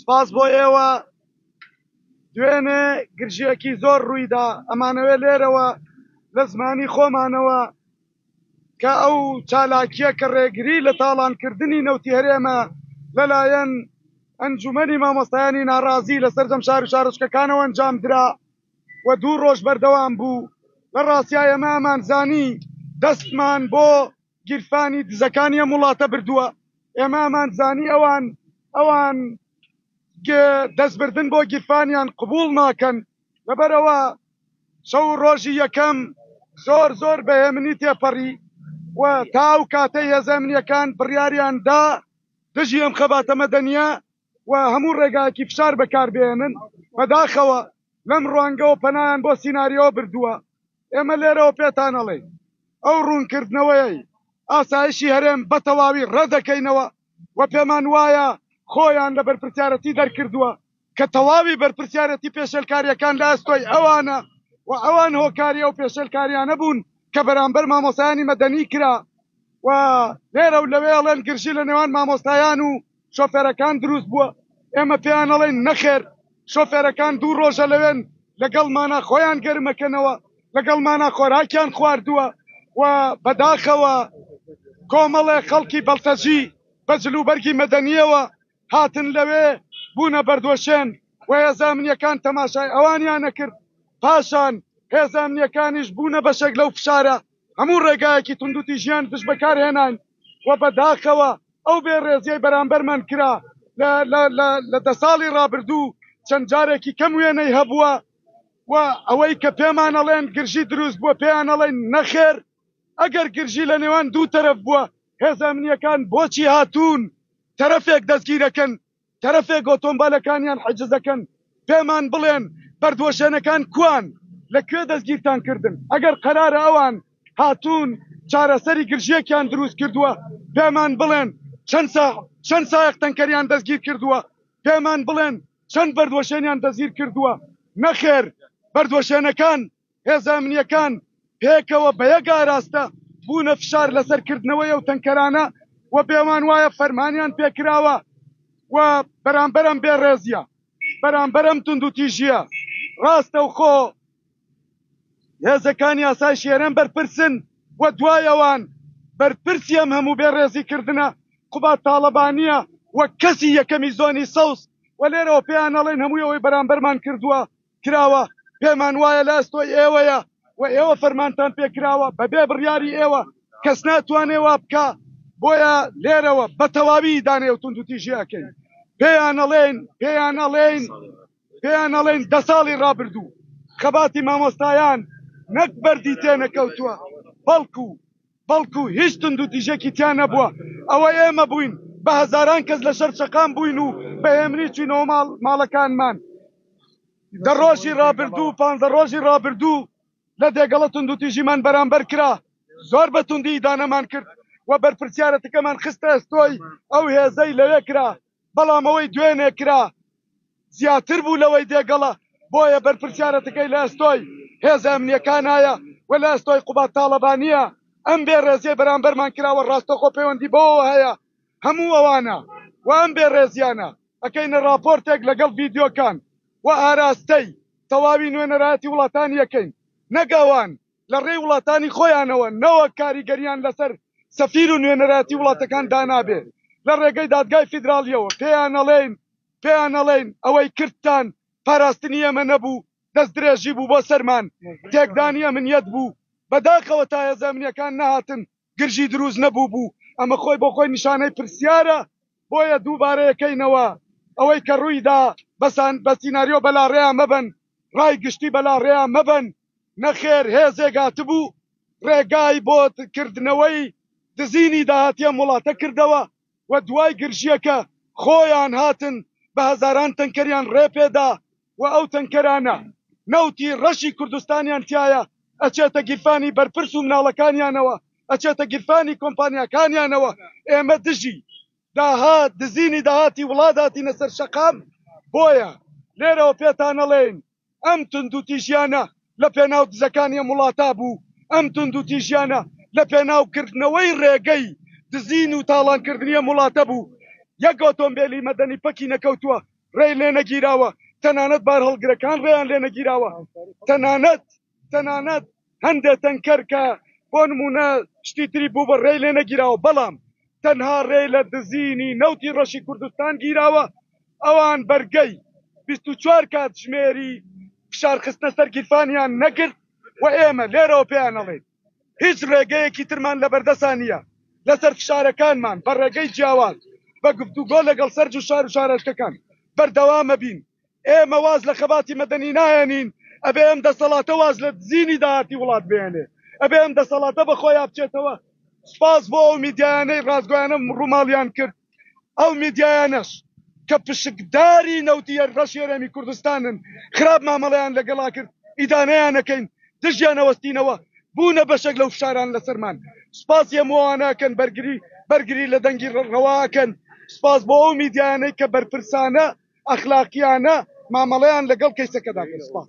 سپاس بۆ ئێوە دوێنێ گرژیەکی زۆر ڕوویدا ئەمانەوێ لێرەوە لە زمانی خۆمانەوە کە ئەو چالاکیە کە ڕێگری لە تاڵانکردنی نەوتی هەرێمە لەلایەن ئەنجومەنی مامۆستایانی ناڕازی لە سەرجەم شار و شارۆچکەکانەوە ئەنجام درا و دوو ڕۆژ بەردەوام بوو لە ڕاستایەمە ئەمانزانی دەستمان بۆ گیرفانی دزەکانی ئەم وڵاتە بردووە، ئێمە ئەمانزانی ئەوان ئەوان دەستبردن بۆ گیرفانیان قبوڵ ناکەن، لەبەرئەوە شەو و ڕۆژی یەکەم زۆر زۆر بە هێمنی تێپەڕی و تا ئەو کاتەی هێزە ئەمنییەکان بڕیاریان دا دژی ئەم خەباتە مەدەنییە و هەموو ڕێگایەکی فشار بەکاربهێنن، بەداخەوە لەم ڕوانگەوە پەنایان بۆ سیناریۆ بردووە، ئێمە لێرەوە پێتان ئەڵێین ئەو ڕوونکردنەوەیەی ئاسایشی هەرێم بەتەواوی ڕەتدەکەینەوە و پێمانوایە خۆیان لە بەرپرسیارەتی دەرکردووە کە تەواوی بەرپرسیارەتی پێشێلکارییەکان لە ئەستۆی ئەوانە و ئەوان هۆکاری ئەو پێشێلکارییانە بوون کە بەرامبەر مامۆستایانی مەدەنی کرا و لێرە و لەوێ ئەڵێن گرژی لە نێوان مامۆستایان و شۆفێرەکان دروست بووە، ئێمە پێیان ئەڵێین نەخێر شۆفێرەکان دوو ڕۆژە لەوێن لەگەڵمانا خۆیان گەرمەکەنەوە، لەگەڵمانا خۆراکیان خواردووە و بەداخەوە کۆمەڵێ خەڵکی بەڵتەجی بە جلوبەرگی مەدەنییەوە هاتن لەوێ بوونە بەردوەشێن و هێزە ئەمنییەکان تەماشای ئەوانیان ئەکرد، پاشان هێزە ئەمنییەکانیش بوونە بەشێک لەو فشارە. هەموو ڕێگایەکی توندوتیژیان دژ بەکارهێناین و بەداخەوە ئەو بێ ڕێزیەی بەرامبەرمان کرا لە دە ساڵی ڕابردوو چەند جارێکی کەم وێنەی هەبووە و ئەوەی کە پێمان ئەڵێن گرژی دروست بووە پێیان ئەڵێن نەخێر ئەگەر گرژی لە نێوان دوو تەرەف بووە هێزە ئەمنیەکان بۆچی هاتوون تەرەفێک دەستگیرەکەن تەرەفێک ئۆتۆمبالەکانیان حجز دەکەن پێمان بڵێن بەردوەشێنەکان کوان لە کوێ دەستگیرتان کردن ئەگەر قەرارە ئەوان هاتوون چارەسەری گرژیەکیان دروست کردووە پێمان بڵێن چەند سا چەند سایەق تەنکەریان دەستگیر کردووە پێمان بڵێن چەند بەردوەشێنیان دەستگیر کردووە نەخێر بەردوەشێنەکان هێزە ئەمنییەکان پێکەوە بە یەک ئاراستە بوونە فشار لەسەر کردنەوەی ئەو تەنکەرانە و بێوان وایە فەرمانیان پێکراوە و بەرامبەر ئەم بێڕێزیە بەرامبەر ئەم توندوتیژیە ڕاستەوخۆ هێزەکانی ئاسایشی هەرێم بەرپرسن و دوای ئەوان بەرپرسی ئەم هەموو بێڕێزی کردنە قوباد تاڵەبانیە وەک کەسی یەکەمی زۆنی سەوز و لێرەوە پێیان ئەڵێن هەمووی ئەوەی بەرامبەرمان کردووە کراوە پێمان وایە لە ئەستۆی ئێوەیە و ئێوە فەرمانتان پێکراوە بەبێ بڕیاری ئێوە کەس ناتوانێ وا بکا بۆیە لێرەوە بە تەواوی ئیدانەی و توندوتیژی ئەکەین پێیان ئەڵێین پێیان ئەڵێین پێیان ئەڵێین دە ساڵی ڕابردوو خەباتی مامۆستایان نەک بەردی تێنەکەوتووە بەڵکو بەڵکو هیچ توندوتیژێکی تیا نەبووە، ئەوە ئێمە بووین بە هەزاران کەس لەشەر چەقام بووین و بە هێمنی چووینەوە ماڵ ماڵەکانمان دە ڕۆژی ڕابردوو پانزە ڕۆژی ڕابردوو لە دێگەڵە توندوتیژیمان بەرامبەر کرا زۆر بە توندی ئیدانەمان کرد و بەرپرسیارەتەکەمان خستە ئەستۆی ئەو هێزەی لەوێ کرا بەڵام ئەوەی دوێنێ کرا زیاتر بوو لەوەی دێگەڵە، بۆیە بەرپرسیارەتەکەی لە ئەستۆی هێزە ئەمنییەکانایە و لە ئەستۆی قوباد تاڵەبانییە، ئەم بێڕێزیەی بەرامبەرمان کراوە ڕاستەخۆ پەیوەندی بەوەوە هەیە هەموو ئەوانە و ئەم بێڕێزیانە ئەکەینە ڕاپۆرتێک لەگەڵ ڤیدیۆکان و ئاراستەی تەواوی نوێنەرایەتی وڵاتانی ئەکەین نەک ئەوان لە ڕێی وڵاتانی خۆیانەوە نەوەک کاریگەرییان لەسەر سەفیر و نوێنەرایەتی وڵاتەکان دانابێ لە ڕێگەی دادگای فیدراڵییەوە پێیانەڵێین پێیانەڵێین ئەوەی کردتان پاراستنی ئێمە نەبوو دەستدرێژی بوو بۆ سەرمان تێکدانی ئەمنیەت بوو بەداخەوە تا هێزە ئەمنیەکان نەهاتن گرژی دروست نەبووبوو، ئەمە خۆی بۆ خۆی نیشانەی پرسیارە، بۆیە دووبارەیەکەینەوە ئەوەی کە ڕوویدا، بەسان بە سیناریۆ بەلاڕێیا مەبەن، ڕای گشتی بەلاڕێیا مەبەن، نەخێر هێزێک هاتبوو ڕێگای بۆ کردنەوەی دزینی داهاتی ئەم وڵاتە کردەوە، و دوای گرژییەکە خۆیان هاتن بە هەزاران تەنکەریان ڕێ پێ دا و ئەو تەنکەرانە نەوتی ڕەشی کوردستانیان تیایە ئەچێتە گیرفانی بەرپرس و مناڵەکانیانەوە ئەچێتە گیرفانی کۆمپانیاکانیانەوە ئێمە دژی داهات دزینی داهاتی وڵات هاتینە سەر شەقام بۆیە لێرەوە پێتان ئەڵێین ئەم توندوتیژیانە لە پێناو دزەکانی ئەم وڵاتە بوو، ئەم توندوتیژیانە لە پێناو کردنەوەی ڕێگەی دزین و تاڵانکردنی ئەم وڵاتە بوو، یەک ئۆتۆمبێلی مەدەنی پەکی نەکەوتووە ڕێی لێ نەگیراوە، تەنانەت بارهەڵگرەکان ڕێیان لێ نەگیراوە، تەنانەت تەنانەت. هەندێ تەنکەر کە بۆ نموونە شتی تری بووبن رێی لێ نەگیراوە، بەڵام تەنها رێ لە دزینی نەوتی رەشی کوردستان گیراوە، ئەوان بەرگەی بیست و چوار کاتژمێری فشار خستنە سەر گیرفانیان نەگرت و ئێمە لێرەوە پێیان ئەڵێین هیچ رێگەیەکی ترمان لە بەردەسا نییە لەسەر فشارەکانمان بە رێگەی جیاواز بە گفتوگۆ لەگەڵ سەرجو شارو شارۆچکەکان بەردەوام ئەبین ئێمە واز لە خەباتی مەدەنی ناهێنین، ئەبێ ئەم دەسەڵاتە واز لە دزینی داهاتی وڵات بهێنێ، ئەبێ ئەم دەسەڵاتە بە خۆیا بچێتەوە. سپاس بۆ ئەو میدیایانەی ڕاستگۆیانە ڕووماڵیان کرد، ئەو میدیایانەش کە پشکداری نەوتی رەش هەرێمی کوردستانن، خراپ مامەڵەیان لەگەڵا کرد، ئیدانەیان ئەکەین، دژیان ئەوەستینەوە، بوونە بەشێک لەو فشاران لەسەرمان. سپاسی هەموو ئەوانە ئەکەن بەرگری بەرگری لە دەنگی ڕەوا ئەکەن، سپاس بۆ ئەو میدیایانەی کە بەرپرسانە ئەخلاقیانە مامەڵەیان لەگەڵ کەیسەکەدا کرد. سپاس.